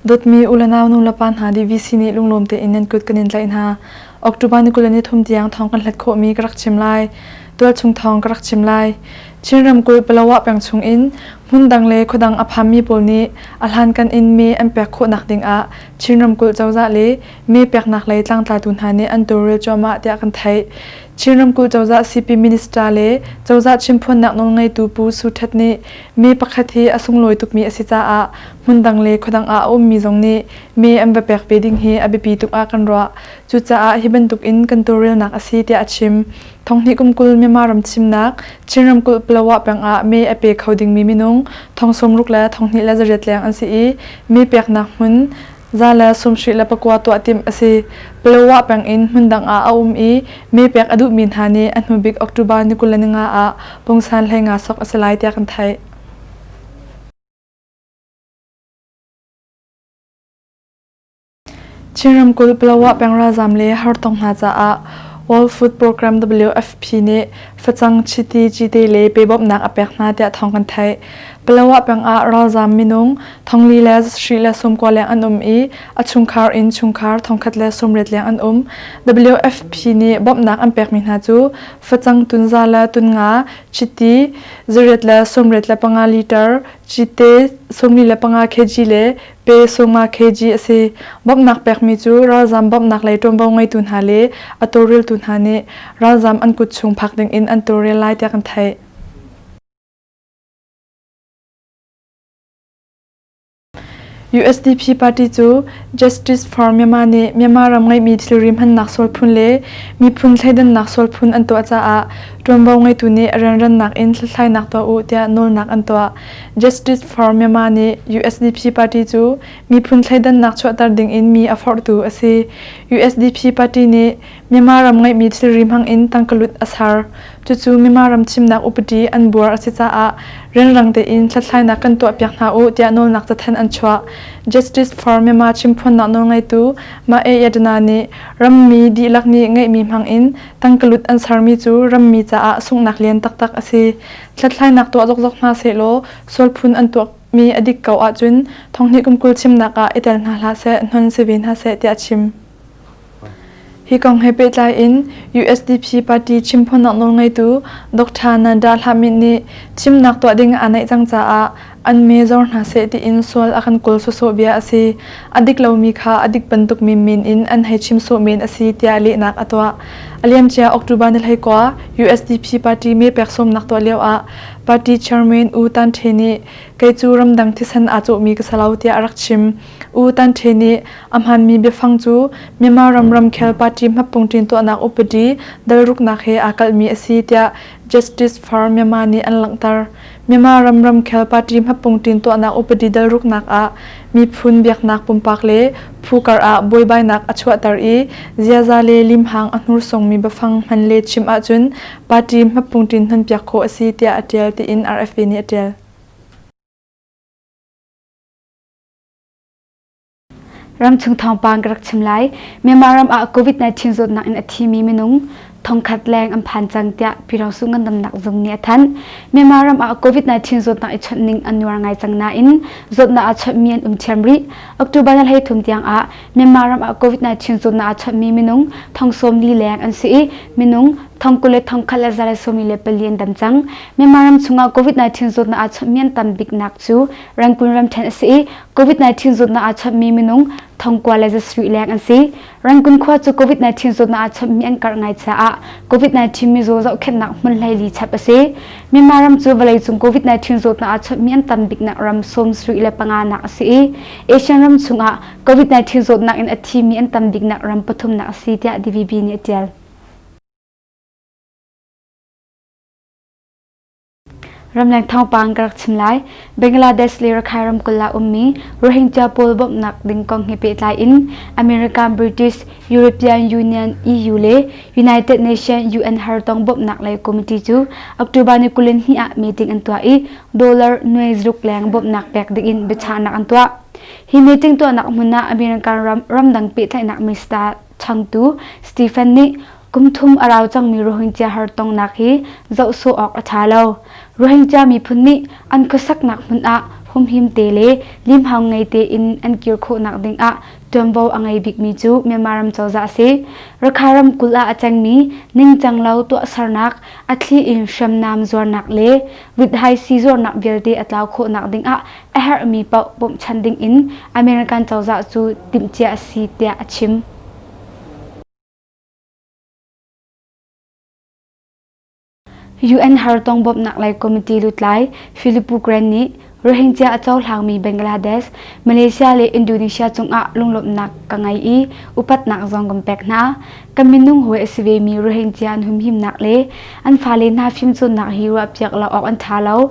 Dawtmi u le nau nulepa hna DVC nih lunglawm tein nan kut kan in tlaih hna. October ni kul le ni thum tiang thawng kan hlat khawhmi ka rak chim lai. Tualchung thawng ka rak chim lai. Chin ramkulh Palawa peng chung in hmun dang le khuadang a phammi pawl nih a hlankan in mi an pek khawhnak ding ah Chin ramkulh cozah le mi peknak lei tlangtlatu hna nih an tawlrel cuahmah tiah kan theih. Chin ramkulh cozah CP Minister le cozah chimphuannak nawlngeitu Pu Su Htet nih mi pakhat hi a sunglawi tukmi a si caah hmundang le khuadang ah a ummi zong nih mi an va pek ve ding hi a biapi tuk ah kan ruah. Cucaah hi bantuk in kan tawlrelnak a si tiah a chim. Thonghnih kum kul Myanmar ram thimnak Chin ramkulh Palawa peng ah mee a pe kho dingmi minung thong sawmruk le thonghnih le zariat leng an si i mi peknak hmun Za le sumhri le pakua tuah timh a si. Payowa peng in hmundang ah a um i mee pek a duhmi hna nih a hnubik October ni kul le ninga ah pungsan hlei nga sok a si lai tiah kan theih. Chin ramkulh Payowa peng ralzaam le hartong hna caah World Food Program WFP nih facang chiti chite le pe bawmhnak a pek hna tiah thawng kan theih. Payowa peng ah ralzaam minung Thongli le sri le sawmkua leng an um i a chungkhar in chungkhar thongkhat le sawmriat leng an um. WFP nih bawmhnak an pekmi hna cu facang tunza le tunga, chiti, zariat le sawmriat le panga liter, cite sawmli le panga kg le pe sawma kg a si. Bawmhnak pekmi cu ralzam bawmhnak lei ṭuanvo ngeitu hna le a tawlreltu hna nih ralzam an kut chung phak dingin an tawlrel lai tiah kan theih. USDP party cu Justice for Myanmar nih Myanmar ram ngeihmi thilri hmannak sual phun le miphun thleidannak sual phun an tuah caah ṭuanvo ngeitu nih rianrannak in hlathlainak tuah u tiah nawlnak an tuah. Justice for Myanmar nih USDP party cu miphun thleidannak chuahter ding in mi a forhtu a si. USDP party nih Myanmar ram ngeihmi thilri hmang in tangkalut a ser. Cucu Myanmar ram chimnak upadi an buar a si caah rianrang tein hlathlainak kan tuahpiak hna u tiah nawlnak cathanh an chuah. Justice for Myanmar chimphuannak nawlngeitu Mae Yadana nih rammi dihlak nih ngeihmi hmang in tangkalut an sermi cu rammi caah sunghnak lian taktak a si. Hlathlainak tuah zokzok hna sehlaw sualphun an tuahmi a dik ko ahcun thonghnih kum kul chimnak ah i tel hna hlah seh, hnon si ve hna seh tiah a chim. Hi kong he pehtlai in USDP party chimphuannak nawlngeitu Dr. Nada Hlamit nih thimnak tuah ding aa naih cang caah an mee zor hna seh tiin sual a kan kawl sawsawh bia a si. A dik lomi kha a dik bantuk menmen in an hei chim sawh men a si tiah lehnak a tuah. A liamcia October ni hlei kua USDP party mee pek sawmnak tuah lio ah party chairman U Tan Ṭhe nih kei cu ramdang thisen aa cawhmi ka si lo tiah a rak chim. U Tan Ṭhe nih a hmaanmi biafang cu Myanmar ram ramkhel party hmappung ṭin tuahnak upadi dalruknak he aa kalhmi a si tiah Justice for Myanmar nih an langhter. Myanmar ram ramkhel party hmappung ṭin tuahnak upadi dalruknak ah miphun biaknak pumpak le phu kar ah buaibainak a chuahter i ziaza le limhang a hnursongmi biafang hman le chim ahcun party hmappung ṭin hmanpiak khawh a si tiah a ṭial tiin RFA nih a ṭial. Ramchung thawngpang ka rak chim lai. Myanmar ram ah COVID-19 zawtnak in a thimi minung thongkhat leng an phan cang tiah Pyiraosu ngandamnak zung nih a thanh. Myanmar ram ah COVID-19 zawtnak i chawnh ning an nuar ngai cang nain zawtnak a chawnhmi an um thiam rih. October ni hleithum tiang ah Myanmar ram ah COVID-19 zawtnak a chawnhmi minung thong sawmli leng an si i minung thong kul le thong khat le zarasawmi le pali an dam cang. Myanmar ram chungah COVID-19 zawtnak a chawnhmi an tam biknak cu Rangkun ramṭhen a si i COVID-19 zawtnak aa chawmmi minung thongkua le zasui leng an si. Rangkun khua cu COVID-19 zawtnak aa chawmmi an karh ngai caah COVID-19 mizaw zohkhenhnak hmun hleili chap a si. Myanmar ram cu vawleicung COVID-19 zawtnak aa chawmmi an tam biknak ram sawmsui le panga nak a si i Asian ram chungah COVID-19 zawtnak in a thimi an tam biknak ram pathumnak a si tiah DVB nih a ṭial. Ramleng thawngpang ka rak chim lai. Bangladesh le Rakhine ramkulh ah ummi Rohingya pawl bawmhnak ding kong he pehtlai in America, British, European Union, EU le United Nations UN hartong bawmhnak lei committee cu October ni kulen hnih ah meeting an tuah i dollar nuai zaruk leng bawmhnak pek ding in biachahnak an tuah. Hi meeting tuahnak hmun ah American ram ramdang pehtlaihnak minister Changtu Stephen nih kum thum a rau cangmi Rohingya har tongnak hi zoh sawh awk a ṭha lo. Rohingya miphun nih an khuasaknak hmun ah humhim te le limhau ngei tein an kir khawhnak ding ah ṭuanvo a ngei bikmi cu Myanmar ram cozah a si. Rakha ramkulh ah a cengmi ningcanglo tuahsernak, a thli in hriamnam zuarnak le rithaisi zuarnak vialte a tlau khawhnak ding ah a herhmi paoh bawmhchanh dingin American cozah cu timhcia a si tiah a chim. UN hartong bawmhnak lei committee lutlai Filippo Grandi nih Rohingya a cohlangmi Bangladesh, Malaysia le Indonesia cungah lunglawmhnak ka ngei i upatnak zong kan pek hna. Kan minung hawi a si vemi Rohingya an humhimnak le an fale hna fimcawnnak hi ruahpiak lo awk an ṭha lo.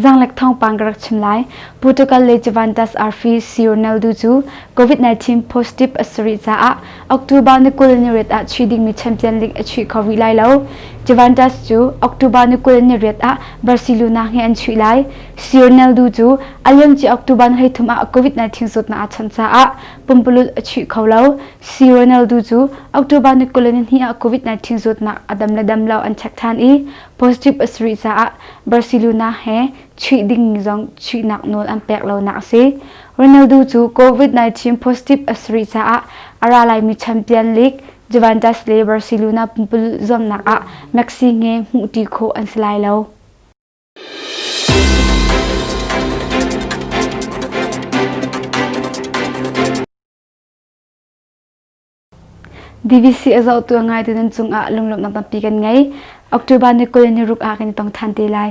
Zanglek thawngpang ka rak chim lai. Portugal le Juventus arfi si Ronaldo cu COVID-19 positive a si rih caah October ni kul ni riat ah chuih dingmi Champions League a chuih kho rih lai lo. Juventus cu October ni kul ni riat ah Barcelona he an chuih lai. Si Ronaldo cu a liamci October ni hleithum ah COVID-19 zawtnak a chawnh caah pumpululh a chuih kho lo. Si Ronaldo cu October ni kul ni hnih ah COVID-19 zawtnak a dam le dam lo an check than i positive a si rih caah Barcelona he chuih dingmi zong chuihnak nawl an pek lonak a si. Ronaldo cu COVID-19 positive a si rih caah a ra laimi champion league Juventus le Barcelona pumpululh zuamnak ah Messi he hmuhṭi khawh an si lai lo. DVC a zohtu a ngaite nan cungah lunglawmhnak tampi kan ngei. October ni kul ni ruk ah kan i tong than te lai.